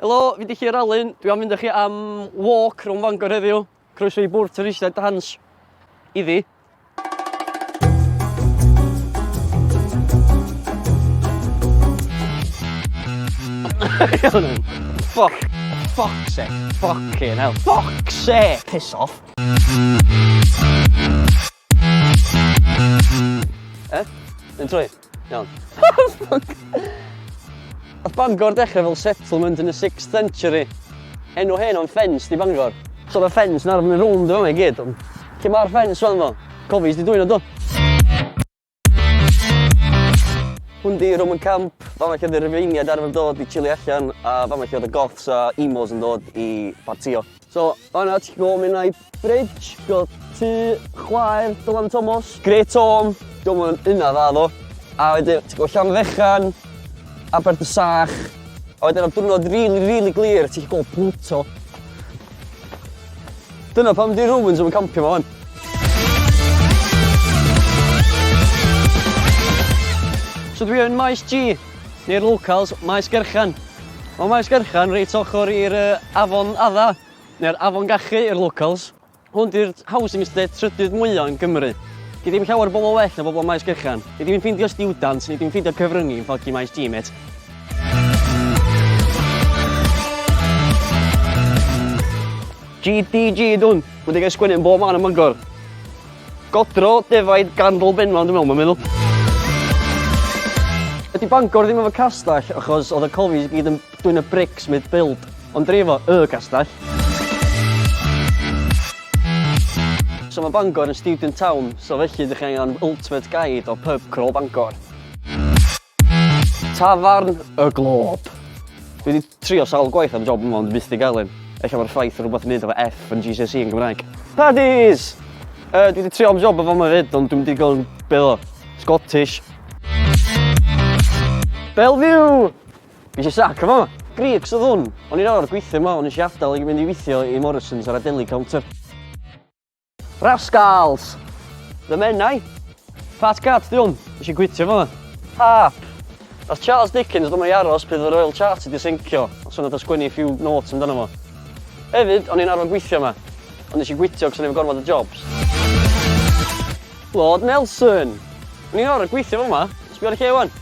Helo, fi di Llyr Alun, dwi am fynd â chi am walk rhwng Fangor heddiw. Croeso i bwrdd twristiaid Dance. Iddi. Fuck. Fuck se. Fucking hell. Fuck se. Piss off. Eh? Yn trwy? Iawn. Oedd Bangor dechrau fel settlement yn y 6th century. Enw hen o'n ffens di Bangor. So oedd y ffens yn arfon yn rownd efo fe gyd. Lle mae'r ffens fan fo? Cofis di dwy'n o do? Hwn di Roman Camp, fama lle oedd y Rifeiniaid arfer yn dod i chili allan a fama lle oedd y Goths a Emos yn dod i partio. So, fanna ti'n gwybod mynd na'i bridge, gwybod tu chwaer Dylan Thomas. Great Tom, diolch yn yna dda ddo. A wedyn, ti'n gwybod Llan Fechan, Abert y Sach. A wedyn am diwrnod rili, really, rili really glir, ti'n gwybod Pluto. Dyna pam 'di Romans ddim yn campio 'ma 'wan. So dwi yn Maes G, neu'r locals, Maes Gerchan. Mae Maes Gerchan reit ochr i'r uh, Afon Adda, neu'r Afon Gachu i'r locals. Hwn di'r housing estate trydydd mwyaf yn Gymru. Di ddim llawer bobl well na bobl Maes Gerchan. Di ddim yn ffeindio students, ni ddim yn ffeindio cyfryngu yn ffoggi Maes G, met. GDG dwn, wedi cael sgwennu yn bob man yn Mangor. Godro defaid gandol benfan, dwi'n meddwl, mae'n meddwl. Ydy Bangor ddim efo castell, achos oedd y cofis gyd yn dwy'n y brics mid build, ond dri efo y castell. So mae Bangor yn student town, so felly ydych chi'n angen ultimate guide o pub crawl Bangor. Tafarn y Glob. Dwi wedi trio sawl gwaith am job yma ond byth di gael un. Ella mae'r ffaith rhywbeth yn neud efo F yn GCSE yn Gymraeg. Paddies! Uh, dwi wedi trio am job efo yma fyd ond dwi'n digon beth o. Scottish. Bellevue! Fi eisiau sac efo yma. Greeks oedd hwn. O'n i'n awr gweithio yma, o'n i eisiau adael i mynd i weithio i Morrison's ar Adeli Counter. Rascals! The Menai! Fat Cat di hwn, nes i gwitio fo. Hap! Nath Charles Dickens ddim o'i aros pryd oedd y Royal Charts wedi seincio, ond so nath o sgwennu few notes amdano fo. Hefyd, o'n i'n arfon gweithio yma, ond nes i gwitio cos o'n i efo gormod o jobs. Lord Nelson! O'n i'n arfon gweithio fo ma, sbio ar y lle wan.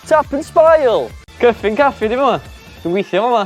Tap and Spile! Cyffin Caffi di fo ma, dwi'n gweithio fo ma.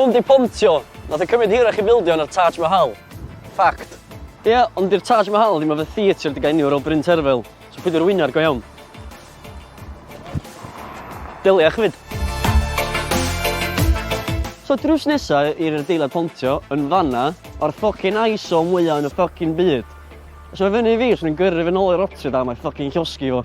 Pump 'di pontio! Nath e cymryd hirach i fildio na'r Taj Mahal. Fact. Ie, ond 'di'r Taj Mahal ddim efe theatr digaeniwr fel Bryn Terfel, so peidio rwyno ar go iawn. Delia chi 'fyd. So drws nesa i'r adeilad pontio yn fanna, ma'r ffycin ISO mwya yn y ffycin byd. Os ma' fyny i fi, swn i'n gyrru fe nôl i Rotterdam a'i ffycin llosgi fo.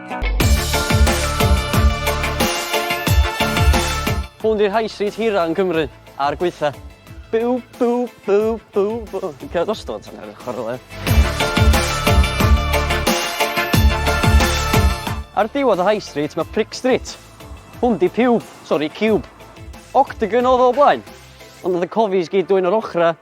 Hwn di'r high street hira yn Cymru, a'r gweitha. Bw, bw, bw, bw, bw. Dwi'n cael dostod tan ar y chwarle. Ar diwedd y high street mae Prick Street. Hwn di piwb, sori, cube. Octagon oedd o blaen. Ond oedd y cofis gyd dwy'n yr ochrau.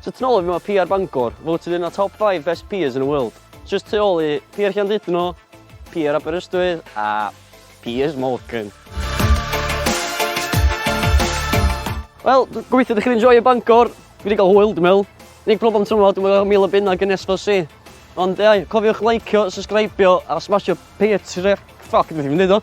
So ti'n ôl i fi mae PR Bangor, voted yn y top 5 best PRs in the world. Just tu ôl i PR Llandudno, PR Aberystwyth a Piers Morgan. Wel, gobeithio ydych chi'n enjoy y Bangor. Fi wedi cael hwyl, dwi'n meddwl. Nig problem tymor, dwi'n meddwl mil o bunna gyn SFC. Ond ei, cofiwch likeio, subscribeio a smasio Patreon. Ffoc, dwi'n ddim yn dweud o.